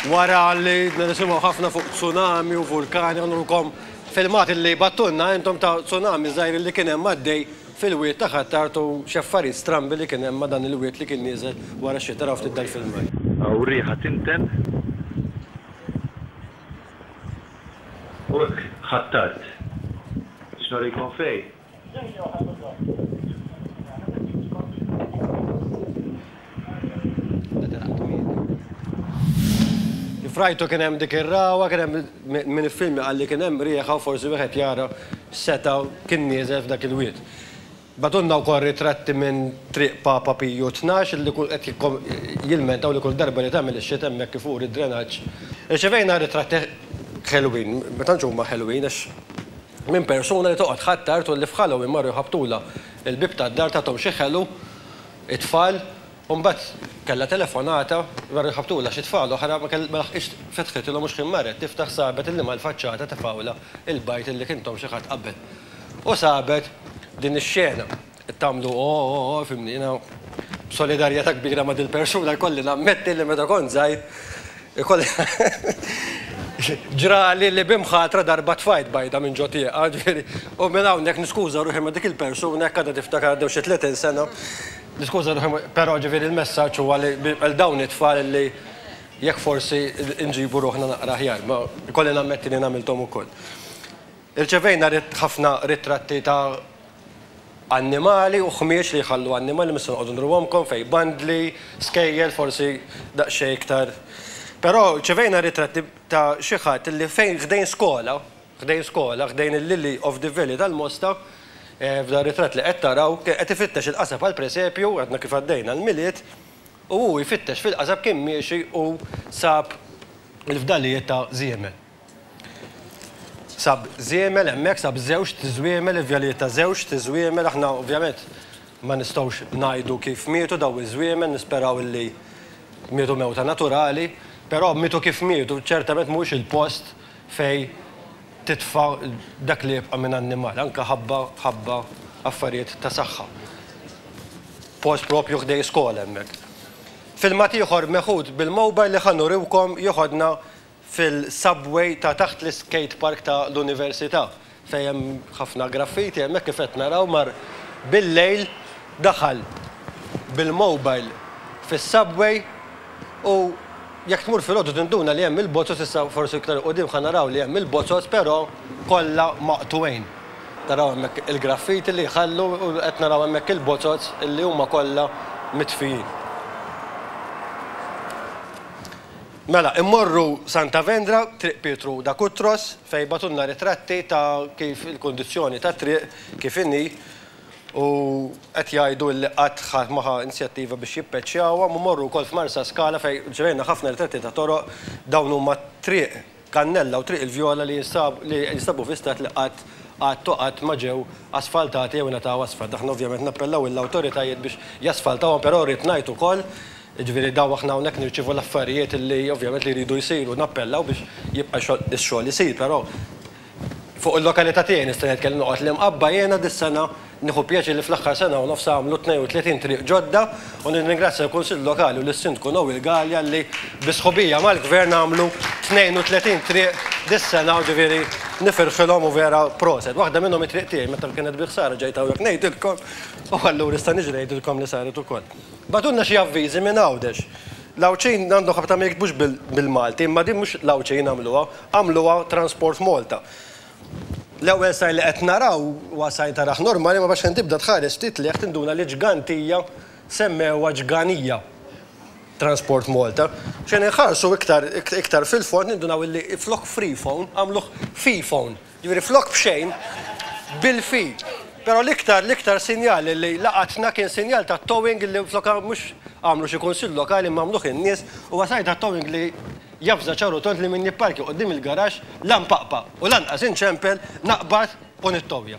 Wara li nisimgħu ħafna fuq tsunami u vulkani għandulkom filmat li battunna intom ta' tsunami żgħir li kien hemm għaddej fil-wied ta' Ħ'Attard u xi affarijiet strambi li kien hemm ma' dan il-wied li kien nieżel wara x-xita. Araw ftit dal-filmat. Hawn riħa tinten u hekk Ħ'Attard. Biex nurikom fejn. Kif rajtu kien hemm dik ir-ragħwa, kien hemm min iffilmja qalli kien hemm riħa u forsi wieħed jara x'seta' kien nieżel f'dak il-wied. Bagħtulna wkoll ritratti minn Triq Papa Piju Tnax li qed jilmentaw li kull darba li tagħmel ix-xita hemmhekk ifur id-drenaġġ. Irċevejna ritratti ħelwin, ma tantx huma ħelwin għax. minn persuna li toqgħod ħatt tard u li f'Halloween marru jħabbtulha l-bieb tad-dar tathom xi ħelu t-tfal u mbagħad kellha telefonata marru jħabbtulha xi tfal oħra ma laħqitx fetħitilhom u xħin marret tiftaħ sabet li mal-faċċata tefgħulha l-bajt li kien thom xi ħadd qabel u sabet din ix-xena. Qed tagħmlu ooh, fimni, jiena b'solidarjetà kbira ma' dil-persuna jkolli nammetti li meta kont żgħir ikolli ġrali li b'imħatra darba tfajt bajda minn ġo tieqa, ġifieri, u minn hawnhekk niskuża ruħi ma' dik il-persuna jekk għadha tiftakar għaddew xi tletin sena, niskuża ruħi, però ġifieri l-messaġġ huwa li għal dawn it-tfal li jekk forsi nġibu ruħna naqra aħjar, ma jkolli nammetti li jiena għamilthom ukoll. Irċevejna ħafna ritratti ta' annimali u ħmieġ li jħallu annimali mhux se noqogħdu nruhomkom fejn bandli, skejjel forsi daqsxejn iktar. Però rċevejna ritratti ta' xi ħadd li fejn ħdejn skola, ħdejn skola, ħdejn il-Lily of the Valley tal-Mosta, f'dan ir-ritratt li qed taraw, kien qed ifittex il-qasab għall-presepju, għadna kif għaddejna l-Milied, u hu jfittex fil-qasab kien miexi u sab il-fdalijiet ta' żiemel. Sab żiemel hemmhekk, sab żewġt żwiemel, il-vjalijiet ta' żewġt żwiemel, aħna ovvjament ma nistgħux ngħidu kif mietu dawn iż-żwiemel, nisperaw illi mietu mewta naturali, però mietu kif mietu, ċertament mhuwiex il-post fejn titfa' dak li jibqa' minn annimal, anke ħabba ħabba affarijiet ta' saħħa. Post proprju ħdejn skola hemmhekk. Filmat ieħor meħud bil-mobile li ħa nuriwkom jeħodna fil-subway ta' taħt l-iskate park ta' l-Università, fejn hemm ħafna graffiti, hemmhekk kif qed naraw mar bil-lejl daħal bil-mobile fis-subway u jekk tmur filgħodu tinduna li hemm il-bozoz issa forsi iktar 'il quddiem ħa naraw li hemm il-bozoz però kollha maqtugħin. Taraw hemmhekk il-graffiti li jħallu u qed naraw hemmhekk il-bozoz li huma kollha mitfijin. Mela, immorru Santa Vendra, Triq Pietru da Cutros, fejn bagħtulna ritratti ta' kif il-kundizzjoni tat-triq kif inhi u qed jgħidu li qatt ħadd ma ħa inzjattiva biex jippeċjawhom u mmorru wkoll f'Marsaskala fejn rċevejna ħafna ritratti ta' toroq, dawn huma Triq Kannella u Triq il-Vjola li jinstabu fi stat li qatt qatt u qatt ma ġew asfaltati jew ingħataw asfalt. Aħna ovvjament nappellaw lill-awtoritajiet biex jasfaltawhom però rrid ngħid ukoll Jiġifieri dawn aħna hawnhekk nirċievu l-affarijiet li ovvjament li jridu jsiru, nappellaw biex jibqa' x-xogħol isir, però fuq il-lokalità tiegħi nista' ngħid kelli noqgħod l-Imqabba jiena dis-sena nieħu pjaċir li fl-aħħar sena u nofs għamlu 32 triq ġodda u nirringrazzja l-Kunsill Lokali u lis-Sindku Noel Galea li bi sħubija mal-Gvern għamlu 32 triq dis-sena u ġifieri nifirħilhom u vera proset. Waħda minnhom it-triq tiegħi meta kienet bi ħsara ġejt hawnhekk ngħidilkom u allura nista' niġi ngħidilkom li saret ukoll. Bagħtulna xi avviżi minn Għawdex. L-Għawdxin għandhom ħabta ma jiktbux bil-Malti, imma din mhux l-Għawdxin għamluha, għamluha Transport Malta. L-ewwel sign li qed naraw huwa sign taraħ normali, imma xejn tibda tħares ftit 'l hekk tinduna li ġgantija semmewha ġganija Transport Malta. Xejn inħarsu iktar fil-fond nindunaw illi flok Freephone għamluh Feephone. Jiġifieri flok b'xejn, bil-fil. Però l-iktar, l-iktar sinjal li laqatna kien sinjal ta' towing li flok mhux għamlu xi kunsill lokali imma għamluh in-nies, huwa sar ta' towing li javża ċar u tond li min jipparkja quddiem il-garaxx la npaqpa' u lanqas inċempel, naqbad u nittowja.